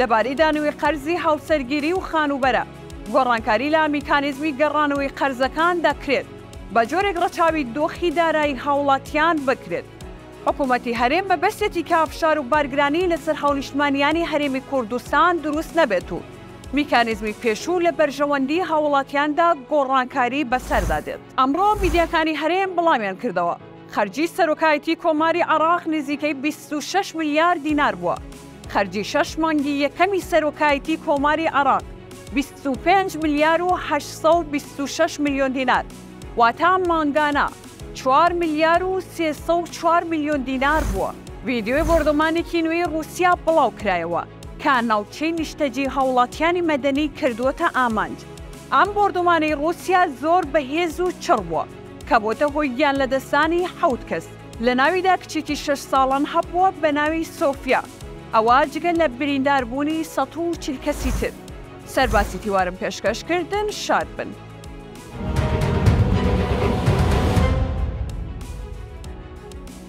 لەباری دانووی قەرزی هاوسەرگیری و خانووبەرە، گۆڕانکاری لە میکانیزمی گەڕانەوەی قەرزەکان دەکرێت، بە جۆرێک ڕەچاوی دۆخی دارایی هاوڵاتیان بکرێت. حکوومەتی هەرێم مەبەستێتی کە فشار و بارگرانی لەسەر هاونیشتمانییانی هەرێمی کوردستان دروست نەبێت و میکانیزمی پێشوو لە بەرژەوەندیی هاوڵاتیاندا گۆڕانکاری بەسەردا دێت. ئەمڕۆ میدیاکانی هەرێم بڵاویان کردەوە، خەرجی سەرۆکایەتی کۆماری عێراق نزیکەی بیست و شەش ملیار دینار بووە، خەرجی شەش مانگی یەکەمی سەرۆکایەتی کۆماری عێراق بیست و پێنج ملیار و هەشت سەد و بیست و شەش ملیۆن دینار واتە مانگانە چوار ملیار و سێ سەد و چوار ملیۆن دینار بووە. ڤیدیۆی بۆردۆمانێکی نوێی ڕووسیا بڵاوکرایەوە کە ناوچەی نیشتەجێی هاوڵاتیانی مەدەنی کردووەتە ئامانج، ئەم بۆردۆمانەی ڕووسیا زۆر بەهێز و چڕ بووە، کە بۆتە هۆی گیان لەدەستدانی حەوت کەس لەناویدا کچێکی شەش ساڵان هەبووە بەناوی سۆفیا ئەوا جگە لە بریندار بوونی سەد و چل کەسی تر سەرباسی تیوارم پێشکەش کردن شاد بن.